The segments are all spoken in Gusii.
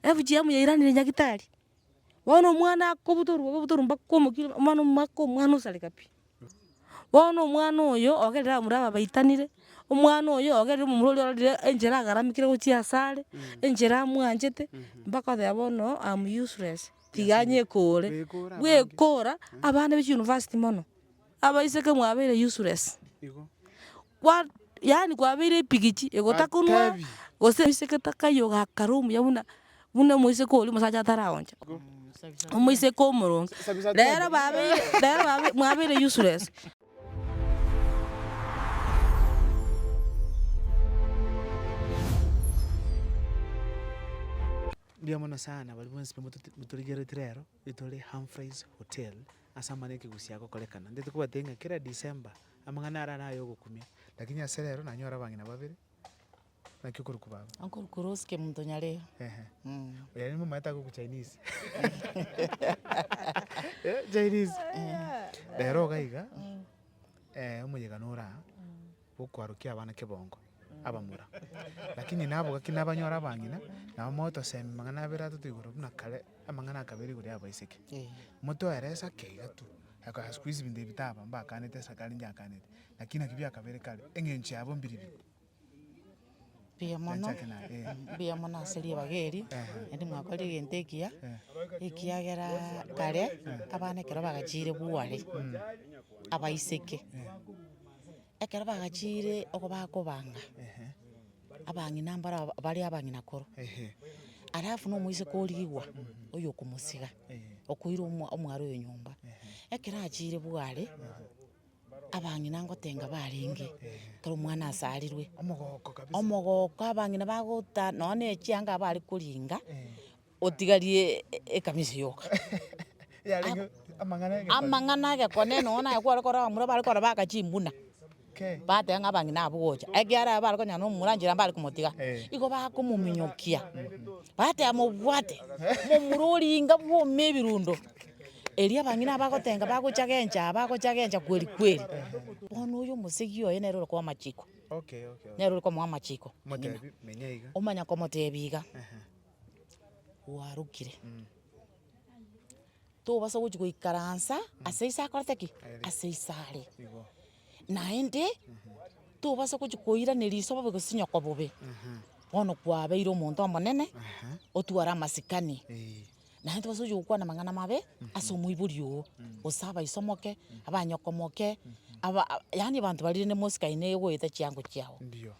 FGM yairanire nyagitari, bono omwana akobutorwa obobutoru mpaka omokina, omwana omwaka omwana osareka pi. Bono omwana oyo ogerire abamura ababaitanire, omwana oyo ogerire omomura oria ororire enchera agaramekire gochia asare, enchera amwanchete, mpaka oteba bono am useless, tiga anyekore. Bwekora, abana be chiuniversity mono, abaiseke mwabeire useless. kwa yaani kwabeire epigichi egotakunwa Atebi. gose oiseke takai ogakara omuya buna buna omoiseke oria omosacha ataragocha, omoiseke omoronge, rero babeire rero babe mwabeire useless. Mbuya mono sana baria bonsi bamotote motorigeretie rero. Itore Humphreys Hotel ase amang'ana ekegusii agokorekana. Intwe tikobatebi ng'a kera December amang'ana arare aye ogokumia, lakini ase rero nanyore abang'ina babere, naki okorokwa baba. Uncle Kuros Kemunto Nyareo. Ehe. Oyo aria nomomaete agokwa Chinese. Chinese. Rero iga iga, omoyega nore aa. gokwarokia abana kebongo abamura. Lakini nabo gaki nabanyore abang'ina, nabo mogotosemi mang'ana abere atato igoro buna kare, amang'ana akabere igoro y'abaiseke. Moto ere esake iga tu, aka squeeze binto ebi taba mbaakanete esake arinche akanete, lakini naki biakabere kare, eng'encho yabo mbiribiri. Mbuya mono, mbuya mono ase ribaga eri, naende mwakorire egento ekiya, ekiagera kare, abana ekero bagachiire bware, abaiseke, ekero bagachiire oko bakobanga, abang'ina mbaro aba bare abang'ina koro, alafu na omoiseke origwa, oyo okomosiga, okoira omwa- omware oyo nyomba, ekero achiire bware. abang'ina ngotenga barenge, ekero omwana asarirwe, Omogooko kabisa. omogooko abang'ina bagota nonya na echianga abwo are koringa, otigarie ekamisi yoka. Yarenge amang'ana egekoo. Amang'ana egekoo nere nonya naye kware korora mura bare korora baka chimbuna, Kei. bateba ng'a abang'ina abwo gocha, ekiagera aye bare konyara na omura nchera mbare komotiga, igo bakomominyokia, bateba mobwate, momura oringa bwome ebirundo. Erio abang'ina aba bagotenga bagochagencha aa bagochagencha kweri kweri. Bono oyo omosegi oye nere ore koa amachiko, nere ore komoa amachiko ng'ina. Omanya komotebia iga, gwarokire, tobasa gochi goikaransa ase ase akorete ki? Ase ase are. Naende, tobasa gochi koirana riso bobe gose nyoko bobe. Bono kwabeire omonto omonene, otware amasikani. naye ntibasa gochia gokwana amang'ana amabe ase omoibori oo, gose abaiso moke, abanyoko moke, aba yaani abanto baria rende mosikaine goeta chiango chiabo. Ndio.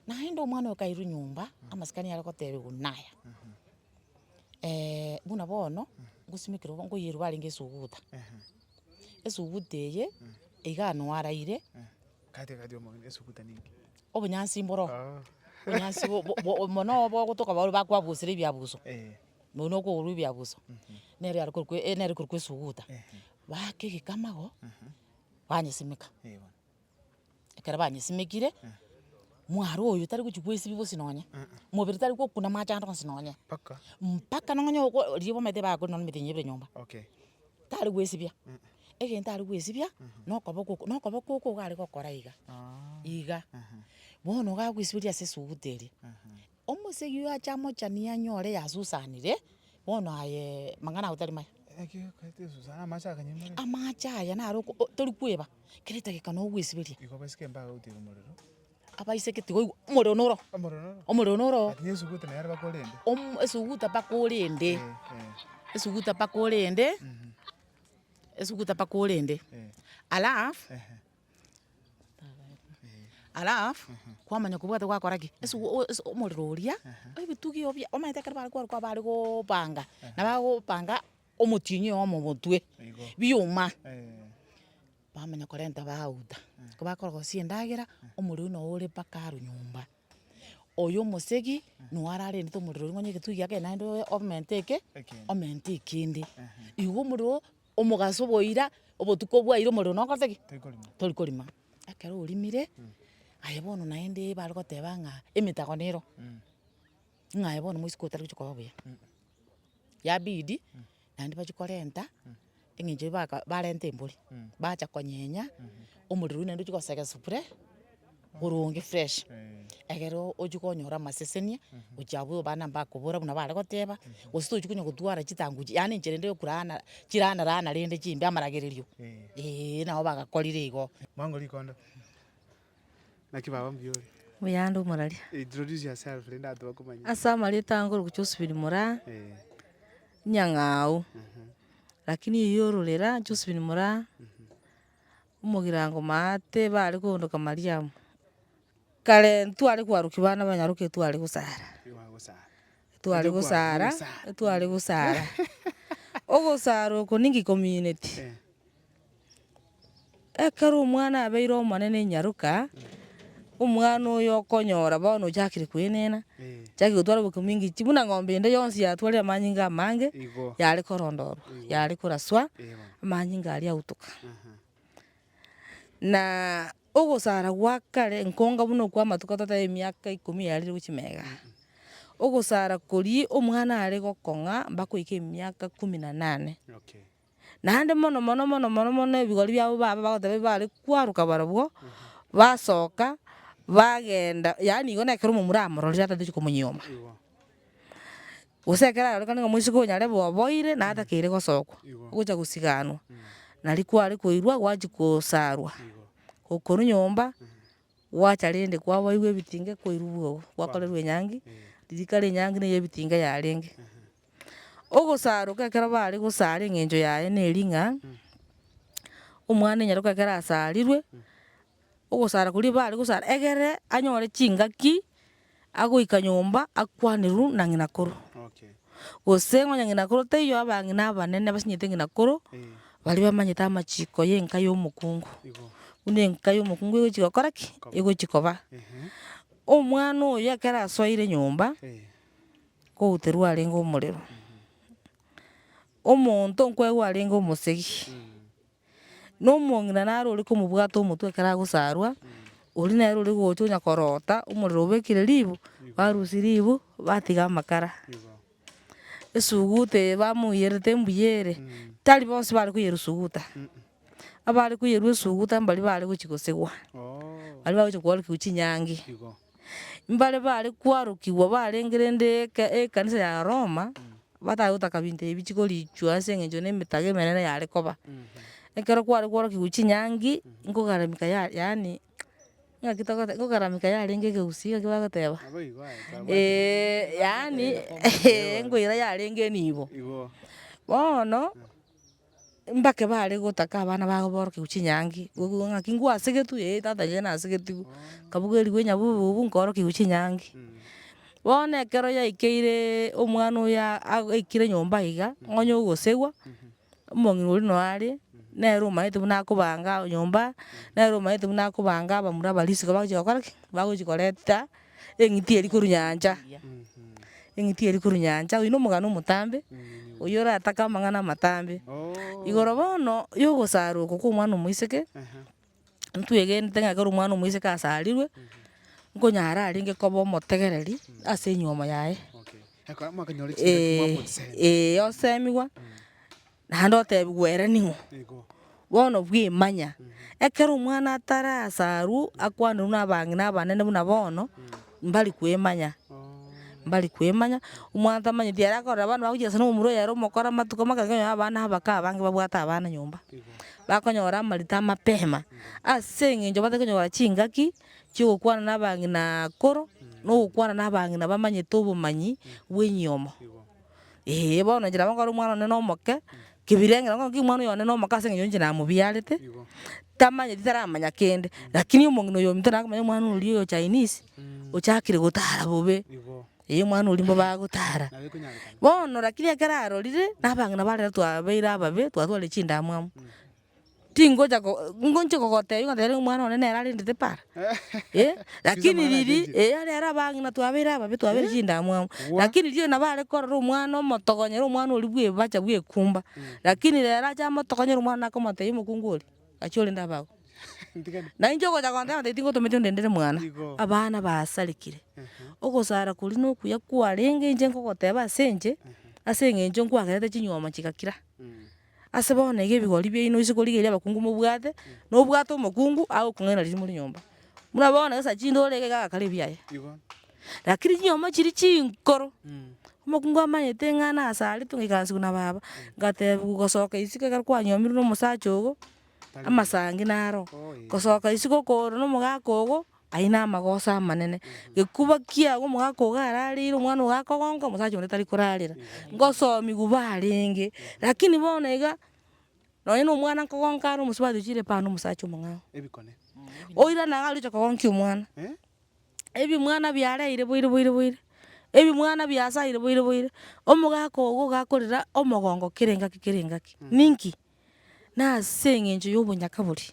Naende omwana oyo kairwa nyomba, amasikani are gotebiwa naya, buna bono, ngosimekire obo nkoyeirwa barenge esuguta, esuguta eye, igaa nwaraire, Katikati omong'ina esuguta neinki? obonyansi mboro, obonyansi bo- bo- bo mono obo ogotoka baria bakwabusia ebiabuso. nonya na okogorwa ebiaguso, nere are korokwa eh nere korokwa esuguta, baaka egekamago, banyesimeka, ekero banyesimekire, mware oyo tari gochia goesibia bosi nonya, mobere tari gokuna amache ande onsi nonya, mpaka nonya nonya oko riria bamaete bakorire nonya emethenya ebere nyomba, tari goesibia, egento are goesibia, na okoboko oko, na okoboko oko iga are gokora iga, iga, bono iga agoesiberi ase esuguta eria. Omosegi oyo ache amochanie anyore yasusanire, bono aye mang'ana ago tari maya. Amache aya naro oko o- tori kweba, kera edageka na ogoesiberia. Abaise ki tigoigwa, omorero noro oo, omorero noro oo. Omo- esuguta mpaka orende, esuguta mpaka orende, esuguta mpaka orende, alafu. alafu kwamanya kobwate gwakora ki, ase o- ase omorero oria, ebitugi obia, omanyete ekero bare kwarokwa abare goopanga, naba gopanga omotienyi oyomo omotwe, biuma, bamanya korenta bagouta, ekero bakora gose endagera, omorero oyio noo ore mpaka aro nyomba, oyo omosegi, noo ararentete omorero oria, nonya egetugi giake naende oye omenteke, omentee kende, igo omorero. Omogaso bwoira, obotuko bwaira omorero nokothe ki? Tori korima. Ekero orimire, aye bono naende bare goteba ng'a emetago nero, ng'a aye bono moisiko otari gochia koba buya. Yabidi, naende bachia korenta, eng'encho eba- ka barenta embori, bacha konyenya, omorero oyio naende ochia gosegesa bure. boronge fresh, ekero ochia konyora amasesenia, gochia abwo abana mbakobora buna bare goteba, gose tochi konya gotwara chitangu chie, yaani enchera ende yokuraana chiraana raana rende chimbe amaragererio, eeh nabo bagakorire igo. Mwango rikondo. Naki baba mbiore. Buyanda omorari. Introduce yourself rende abanto bakomanye. Ase amareta ange oroki Josephine Moraa, Nyang'au, lakini eyi ororera Josephine Moraa. omogirango maa tebare koondoka Mariamu, kare ntitware koarokia bana banyaroka etware gosara, etware gosara, etware gosara, ogosara oko ninki komineti, ekero omwana abeire omonene inyaroka, Omwana oyo okonyora bono ochakire koenena, ochakire gotwara obokima engeicho, buna eng'ombe ende yonsi yatwarire amanyinga amange, yare korondorwa, yare koraswa, amanyinga aria autoka. Na ogosara gwa kare nkonga buna okwo amatuko totebe emiaka ikomi yarire gochia mega, ogosara koria omwana are gokong'a mpaka oike emiaka kumi na nane. Naende mono mono mono mono mono ebigori biabo baba bagoteba bi bare kwaroka barobwo, basoka, bagenda yaani igo na ekero omomura amororire atatochi komonyoma. Gose ekero arorekane ng'a moiseke onya arebe oboire na atakeire gosokwa, ogocha gosiganwa, nari kware koirwa gwachia kosarwa, okorwa nyomba, gwacha rende kwaboirwa ebitinga koirwa bwogo, gwakorerwa enyangi, ririkari enyangi neye ebitinga yarenge. Ogosaaroka ekero baare gosaara eng'encho yaye neri ng'a omwana o nyaroka ekero asaarirwe, ogosaara koria baare gosaara egere anyore chingaki agoika nyomba akwanerwe na ng'ina koro. Gose onye ng'ina koro taiyo abang'ina abanene basinyete ng'ina koro, baria bamanyete amachiko ya enka ya omokungu. Buna enka ya omokungu egochi gokora ki? Egochi koba. Omwana oyo ekero asoire nyomba. Kouterwa arenge omorero. Omonto nkoegwa arenge omosegi. Nomong'ina naro ore komobwata omotwe ekero agosarwa, oria nere ore gocha onya korota omorero obekire ribu, barusia ribu batiga amakara. Esuguta eye bamoiyerete embuya ere, tari bonsi bare koyerusuguta. Abare koyerwa esuguta mbaria bare gochi gosigwa. Baria bagochi kwarokigwa chinyangi. Mbare bare kwarokigwa barenge rende eke- ekanisa ya roma, batare gotaka binto ebi chikorichwa ase eng'encho na emetaga emenene yare koba. Ekero kware kwarokigwa chinyangi, nkogaramika ya- yaani ng'aki togote nkogaramika yarenge egeusi gaki bagoteba? Eeh yaani eeh nkoira yarenge nibo. Bono. Mbake bare gotaka abana babo borokerewu chinyangi, goigwa ng'aki ngwasegetwe, ee tata inche nasegetigwe, nkabugerigwa enyabubu bubu nkaorokerewu chinyangi. Bono ekero yaikeire omwana oyo a- a- aikire nyomba iga, ng'onye ogosegwa, omong'ina oria noyo are, nere omanyete buna akobanga nyomba, nere omanyete buna akobanga abamura aba risiko bagochi gokora ki? Bagochi koreta. Eng'iti eri korwa nyancha, eng'iti eri korwa nyancha, oyio nomogano omotambe, oyio oratake amang'ana amatambe. Igoro bono yogosaroka kwa omwana omoiseke, ntwegenete ng'a ekero omwana omoiseke asarirwe, nkonyara arenge koba omotegereri ase enyiomo yaye. Ekero mwakanyora chingaki mwamosemi. Ee, ee osemigwa. Naende otebigwe ere ning'o? Bono bwimanya, ekero omwana atarasarwa akwanerwe nabang'ina abanene buna bono, mbari kwimanya, mbari kwimanya, omwana tamanyeti ere akorora abana bagochia ase nomomura oyo ere omokoro amatuko make ekero okonyora abana abake abange babwate abana nyomba, bakonyora amarita amapema, ase eng'encho batari konyora chingaki chiogokwana na abang'ina akoro, na ogokwana na abang'ina bamanyete obomanyi bwa enyomo. Ee, bono inche nabo nkore omwana one nomoke, kebirengera ng'o ng'oki omwana oyo one nomoke ase eng'encho ninche namobiarete, tamanyeti taramanya kende, lakini omong'ina oyo ominto nakomanya omwana oria oyo chinese, ochakire gotara bobe, ee omwana oria mbo bagotara. Bono lakini ekero arorire, nabang'ina bare twabeire ababe, twatwarire chindamwamu. Tingocha ko ngonchie kogotebia ngotebia rero omwana one nere arendete para, eh, lakini riria eh aria ere abang'ina twabeire ababe twabeire chindamwamu, lakini riria nabo are korora omwana omotogonyera omwana oria bwa ebacha bwa ekumba, lakini rero ache amotogonyere omwana nakomotebia omokungu oria, gachia orende abe agwo. Na inche ogocha kogotebia ngotebia tingotometi ondendere mwana, abana basarekire, ogosara koria na okuya kwarenge inche nkogoteba ase inche, ase eng'encho nkwagerete chinyuoma chigakira. Ase bono iga ebigori biaino ase korigia eria abakungu mobwate, nobwate omokungu agokong'aina riria more nyomba. Buna bono gesa chinde ore iga iga agakora ebiaye. Lakini chinyomba chiria chinkoro, omokungu amanyete ng'a nase are togaikaransigwa na baba, ngatebiwa gosoka isiko ekero kwanyomirwe na omosacha ogo, amasangi naro, gosoka isiko okoorwa na omogaka ogo. Aye namagoso amanene, gekuba kiago omogaka ogararire omwana ogakogonka omosacha onde tari korarera, ngosomi guba arenge, lakini bono iga, nonye na omwana nkogonka are omosubati ochire epara na omosacha omong'ao, oira naye agocha kogonkia omwana, ebimwana biareire boire boire boire, ebimwana biasaire boire boire, omogaka ogo ogakorera omogongo kera engaki kera engaki, ninki. nase eng'encho y'obonyaka boria,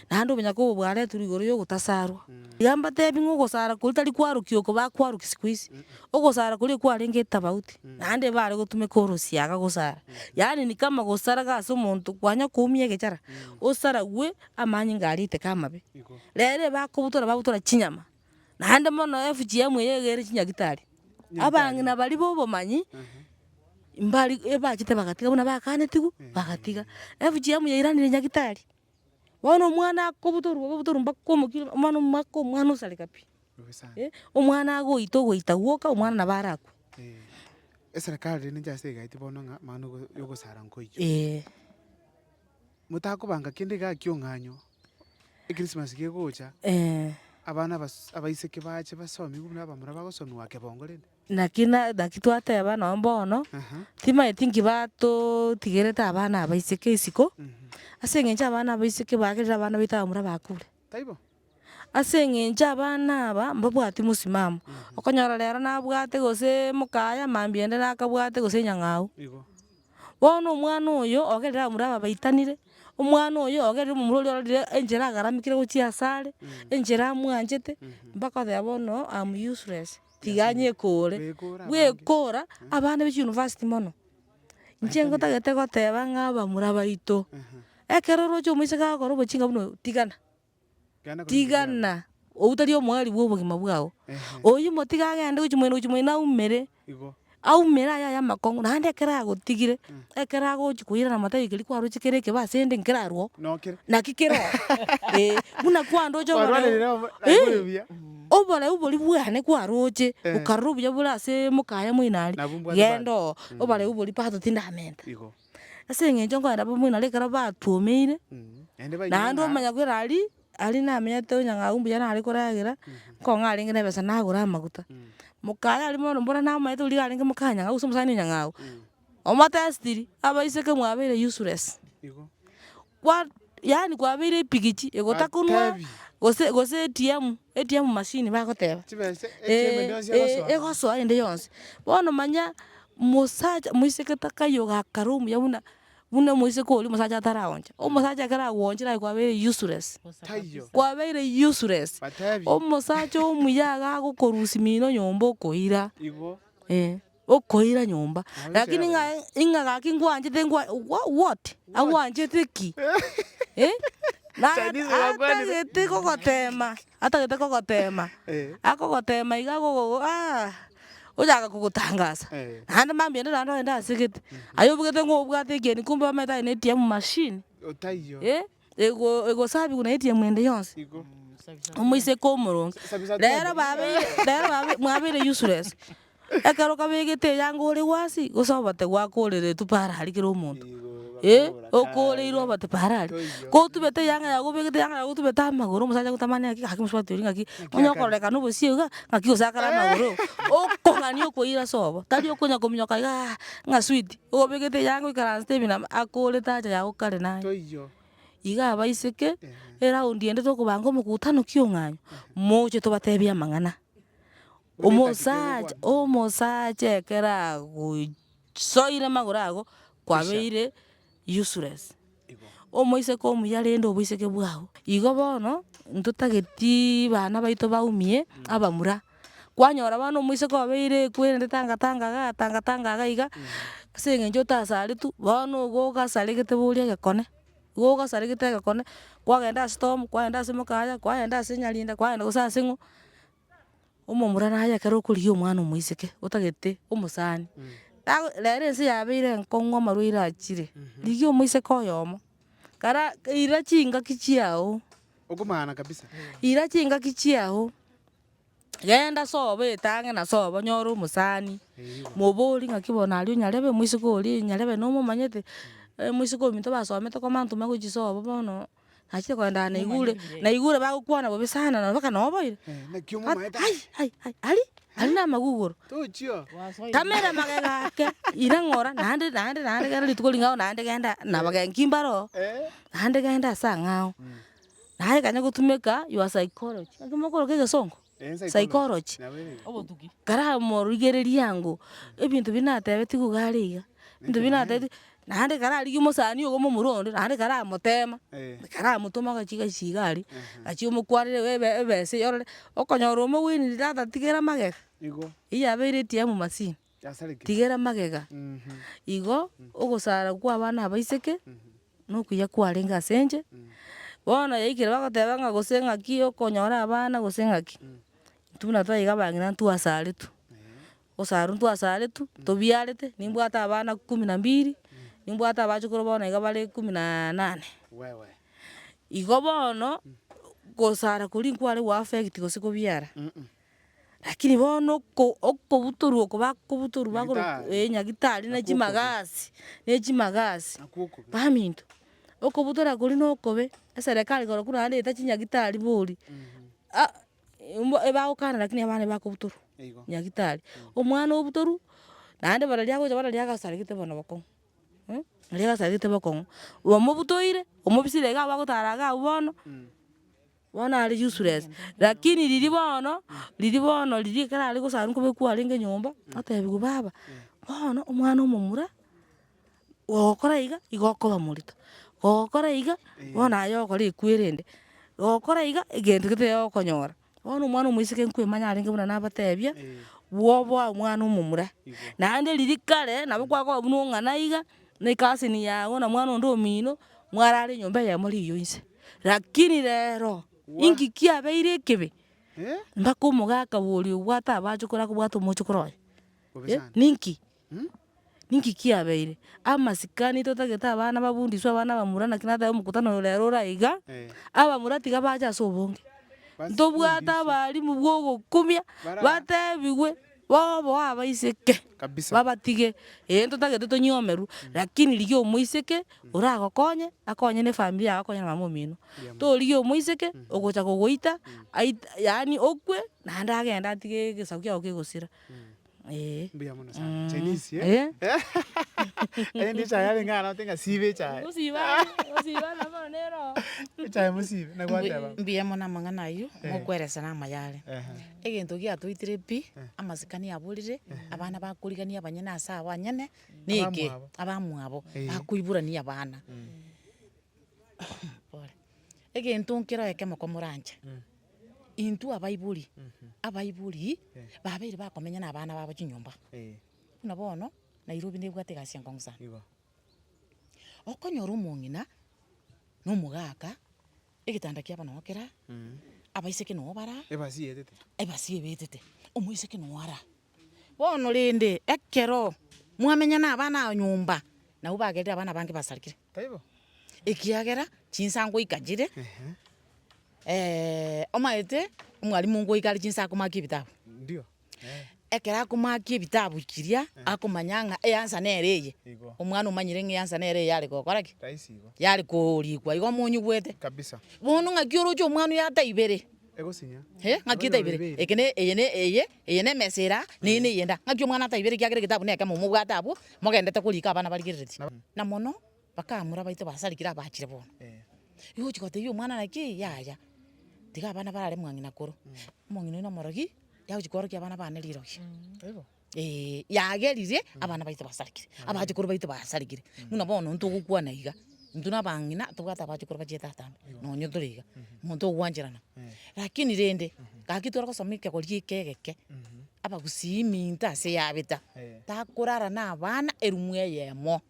naende obonyaka obo bwaretirwe igoro y'ogotasarwa. Iga mbatebi ng'a ogosara koria tari kwarokia oko bakwarokia siku hizi, ogosara koria kwarenge etafauti, naende ebare gotumeka orosiaga gosara. Yaani ni kama gosaraga ase omonto kwanya koumia egechara, osarawe amanyinga aria eteka amabe. Rero eba akobutora babutora chinyama. naende mono FGM eye egere chinyagitari, abang'ina baria ba obomanyi, mbari ebachete bagatiga buna bakanetigwe, bagatiga. FGM yairanire nyagitari, bono omwana akobutorwa bobe obotorwa mpaka omokina, omwana omwaka omwana osareka pi, eh, omwana agoita ogoita gwoka omwana nabo arakwe. Eserekari rende inche ase egaeti bono ng'a mang'ana ya ogosara nkoiyia. Motakobanga kende igaa kiong'anyo. Ekrisimasi kegocha, abana abas- abaiseke bache basomi buna abamura bagosomigwa ake bongo rende. Naki na- naki twateba nonya bono, timaeti nki batotigerete abana abaiseke isiko, ase eng'encho abana abaiseke bagerire abana baito abamura bakure. Taibo? Ase eng'encho abana aba, mbabwati mosimamo, okonyora rero nabwate gose mokaaye mambia ende nakabwate gose enyang'au. Igo. Bono omwana oyo ogerire abamura aba baitanire, omwana oyo ogerire omomura oria ororire enchera agaramekire gochia asare, enchera amwanchete, mpaka oteba bono am useless, tiga nyekore. Gwekora abana be chiuniversity mono, inche ngotagete goteba ng'a abamura baito, ekero oroche omoiseke agokora obochinga buna obwo, tigana. Tigana, oyio tari omoerio bw'obogima bwao. Oyio motige agende gochia moino gochia moino aumere, aumere aye aye amakong'u, naende ekero agotigire, ekero agochia koira namatayo ekeri kwaroche kere ekebe asende nkerarwo oo, naki kere oo. Ee, buna kwandoche oboreu, ii, oboreu boria bwane kwaroche, okarora obuya bore ase mokaya moino aria, genda oo, oboreu boria pato tindamenta. Ase eng'encho nkorenda abamura naro ekero batuomeire, naende bainwe naende ng'a- omanya kwera aria, aria namenyete onyang'au mbuya nare koragera, nkong'a arenge na ebesa nagora amaguta. Mokare aria bono mbora namanyete oria iga arenge moka nyang'au gose omosani nyang'au, omotestiri, abaiseke mwabeire useless. Igo. kwa yaani kwabeire epigichi egotakunwa Atebi. gose gose ATM ATM machine bagoteba Chibesa ATM eria yonsi egosoa. egosoa ende yonsi bono manya mosacha moiseke takayi ogakara omuya buna buna omoiseke oria omosacha ataraoncha omosacha ekero agwochire aye kwabeire useless Taiyo. kwabeire useless Batebi. omosacha omuya iga agokorusia mino nyomba okoira Igo. eeh. Okoira nyomba lakini ng'a ing'a gaki ngwanchete ngwa wha- what? Agwanchete ki? Eh? Na Chinese bakwanire. atagete kogotema, atagete kogotema, Eh. akogotema iga agogogo aah, oyaga kogotangasa. Eh. Naende mambia ende naende ogende asegete, aye obogete ng'o obwate ekieni kumbe omanyete aye ne ATM machine. Otaiyo. Eh? ego- egosabigwa na etiemu ende yonsi, omoiseke omoronge. Rero babeire rero babe mwabeire useless, ekero kabegete eyanga ore gwasi, gose obate gwakoreretwe para aria kera omonto, eh, okoreirwe obate para aria. Kotubete eyanga yago obegete eyanga yago otubete amagoro, omosacha agotamania ng'aki gaki mosubati oria ng'aki onye okorekana obosie iga, ng'aki osakare amagoro, okong'ani okoira sobo, tari okonya kominyoka igaa ng'a switi. Obegete yanga goikaransete ebi nabo akorete haja yago kare naye. Iga abaiseke eraundi ende tokobanga omokutano kiong'aini, moche tobatebie amang'ana. Omosacha omosacha ekero agosoire magoro ago kwabeire useless. omoiseke omuya rende oboiseke bwao. Igo bono ntotageti bana baito baumie abamura, kwanyora bono omoiseke obeire ekwe rende tanga tanga igaa tanga tanga igaa iga, ase eng'encho otasaretu, bono igo ogasaregete boria egekone, igo ogasaregete egekone, kwagenda ase town, kwagenda ase mokaya, kwagenda ase nyalinda, kwagenda gose ase ng'o. Omomura naye ekero okorigia omwana omoiseke otagete omosani, tago rero ense yabeire enkong'u amarwaire achire, rigia omoiseke oyomo, kara ira chingaki chiago, Okomana kabisa. ira chingaki chiago, genda sobo etange na sobo nyore omosani, moborie ng'aki bono aria onyarebe omoiseke oria, nyarebe nomomanyete, omoiseke ominto basomete komantome gochia sobo bono. nachire koendana na igure, na igure bagokwana bobe sana nonya mpaka noboire, ai ai ai aria aria namaguguru, tamera magega ake, ira ng'ora naende naende naende gera rituko ring'ao naende genda nabagenki mbare oo, naende genda ase ang'ao, naye ekanya gotumeka your psychology, egekimo okoroka egesongo. psychology, karamorigereria ango, ebinto biria natebetigwe iga are iga, ebinto biria natebetigwe, naende kararigia omosani ogo momura onde, naende karamotema, karamotoma agachie gasi iga aria, achia omokwarera iga ebe- ebesa eyorore, okonyora omogwenia tata tigera magega, eyio abeire ATM machine. tigera magega. Igo ogosara kw'abana abaiseke, nokuya kwarenge ase inche, bono yaikire bagoteba ng'a gose ng'aki okonyora abana gose ng'aki, intwe buna twaiga abang'ina ntwasaretwe, gosarwa ntwasaretwe, tobiarete, nimbwate abana kumi na mbiri, nimbwate abachukuru bono iga bare kumi na nane. Igo bono, gosara koria nkware goaffect gose kobiara. Lakini bono oko- okobutorwa oko bakobutorwa bagorwa Nyagetari. eh, Nyagetari na Nakwo okobe. chimagasi, ne chimagasi. Nakwo okobe. Baminto, okobutora koria na okobe, eserekari korokwo naende eyete chinyagitari bori, ah, mbo ebagokana lakini abana bakobutorwa. Eigo. Nyagetari, omwana obutorwa, naende buna riria agocha bono riria agasaregete bono bokong'u, eh, riria agasarigete bokong'u, omobutoire, omobisire iga abwo agotara iga abwo bono. Bono are useless, lakini riria bono, riria bono riria ekero are gosarwa nkoba ekwarenge nyomba, atebigwe baba, bono omwana omomura, ogokora iga, igo okoba morito, ogokora iga, bono aye ogokora ekwere ende, ogokora iga, egento gete iga ogokonyora. Bono omwana omoiseke nkwemanya arenge buna nabatebia, bwoba omwana omomura, naende riria kare, nabo kwagoa buna ong'ana iga, ne cousin yago, na mwana onde omino, mwarare nyomba eyemo riiyo inse. Rakini rero, inki kiabeire ekebe? Mpaka omogaka oria obwate abachokore akobwate omochokoro oye? Eh, ninki? Ninki kiabeire? Amasikani totagete abana bafundiswe abana abamura naki natae omokutano oyo rero ore aiga, abamura tiga bache ase obonge, ntobwate abalimu bwa ogokumia, batebiwe. Bobe abaiseke Kabisa. babatige ee ntotagete tonyomerwe lakini rigia omoiseke oragokonye akonye ne family yago akonye na mama omino torigia omoiseke ogocha kogoita ait yaani okwe naende agende atige egesaku kiago kegosira ee. Mbuya mono sana. Chinese, eh? Eh. Erinde echae yarenge aye nabate ng'a siba echae. Gosiba aye, gosiba nabo bono neroho. Echae mosibe, nagwateba. Mbuya mono amang'ana ayio, ngokweresa namayo are. Ehe. Egento giatoitire pi, amasikani aborire, abana bakorigania abanyene ase abanyene, na eke, abamwabo, bakoiborania abana. Pole. Egento nkere ekemo komoranche, intwe abaibori, abaibori, babeire bakomenya na abana babo chinyomba. Buna bono, Nairobi nebwate egasi enkong'u sana. Okonyora omong'ina, na omogaka. Egetanda kiabo nao kera, abaiseke nao bara, Ebasi yetete. ebasi ebetete, omoiseke nao ara. Bono rende, ekero mwamenya nabana ao nyomba, nabwo bagerire abana bange basarigire, Taibo? ekiagera chinsa ngoika chire, Ehe. omaete omwalimu ngoika are chinsa akomake ebitabu. Ndio. ekero akomoakia ebitabu chiria, akomanya ng'a eansa nere eye, omwana omanyire ng'a eansa nere eye yare gokora ki? yare koorikwa igo monyigwete. Bono ng'aki oroche omwana oye ataibere, eh ng'aki etaibere, eke ne eye ne eye, eye ne emesa eraa, na eye ne eyende aa, ng'aki omwana ataibere ekiagera egetabu nekemo omobwate abwo, mogendete korika abana barigereretie. Na mono. Bakaamura baito basarigire abaachire bono. Igo ogochia gotebia omwana naki, yaya, tiga abana barare mwang'ina koro, omong'ina oino omorogi, yagochia koorokia abana bane rirogi. Ee, yagerire abana baito basarigire, abachukuru baito basarigire, buna bono intwe ogokwana iga, intwe na abang'ina tobwate abachukuru bachia etata ande, nonye tore iga, omonto ogwancherana. Lakini rende, gaki tore gosoma ekegori eke egeke. Abagusii iminto ase yabeta, takorara na abana erumu eyemo,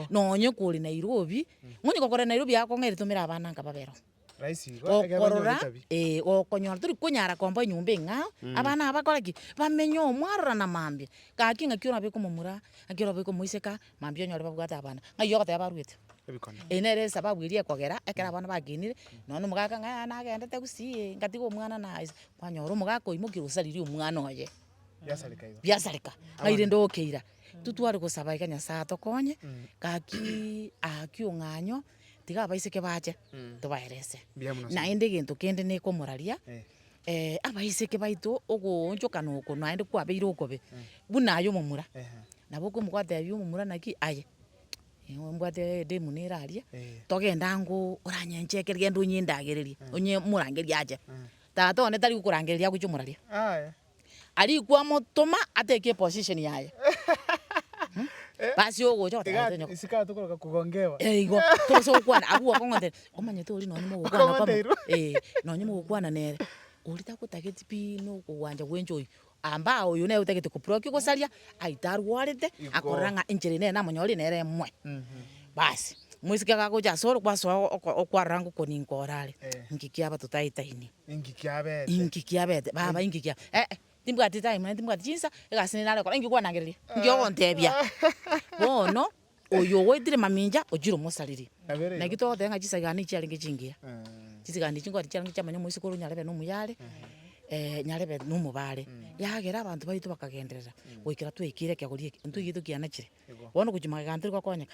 nonye kore Nairobi, nonye gokora Nairobi akong'aini tomera abana nka babere oo. Gokorora ee gokonyora tori konyara komba enyomba eng'ao, abana aba bakore ki? Bamenye oo mwarora na mambia, gaki ng'aki orabeke omomura, ng'aki orabeke omoiseke. Mambia onyore babwate abana, ng'ai ogoteba barwete? Eye nere esababu eria ekogera ekero abana bagenire, nonya omogaka ng'a yaya nagendete gusii, ngatiga omwana naye ase, kwanyora omogaka oimokirie osaririe omwana oye, biasareka, ng'ai rende okeira. Intwe tware gosaba iga Nyasae atokonye, gakiiii, aakio ng'anyo. tiga abaiseke bache tobaerese naende egento kende nekomoraria, abaiseke baito ogoonchokana oko naende kwabeire okobe buna aye omomura, nabo okomotebia omomura naki aye, nigo mbwate edemu nere aria, togende ango oranyenchekere genda onyendagererie, onye morangerie ache, tata one tari gokorangeria agochia omoraria. arikwe amotoma atake eposition yaye basi ogocha ogoteba naende nyoko Isiko atokoroka kugongewa. Eh igo torosia gokwana abwo gwakong'ontera omanyete oria nonye mogokwana kwamo Okong'onteirwe. eh nonye mogokwana nere oria tagotageti pi na okogwancha gwenche oyio amba oyo nere otagete ko proki gosaria aite arwarete Igo. akorora ng'a enchera eye nere namonyorire nere emwe basi mosike gagocha asore kwasoa oko- okwarora ngokoni nkorare Eh. nki kiaba totaetaini Inki kiabete? Inki kiabete? Baba, inki kia. Eh, eh, timbwati time, naende timbwati chinsa, egasi ninde nare gokora, inki kwanangereria? Inki ogontebia? Bono, oyo ogoetire mamincha, ochire omosariri. Kabere igo. Naki togoteba ng'a chisagaani echi chiarenge chingiya. Chisagaani echi nkwati chiarenge chiamanya omoisikore onyarebe na omuyare, nyarebe na omobare. Yagera abanto baito bakagenderera, goikera twaikire ekegori eke, intwe iga tokianachire. Igo. Bono gochia magega ntari gokonyeka.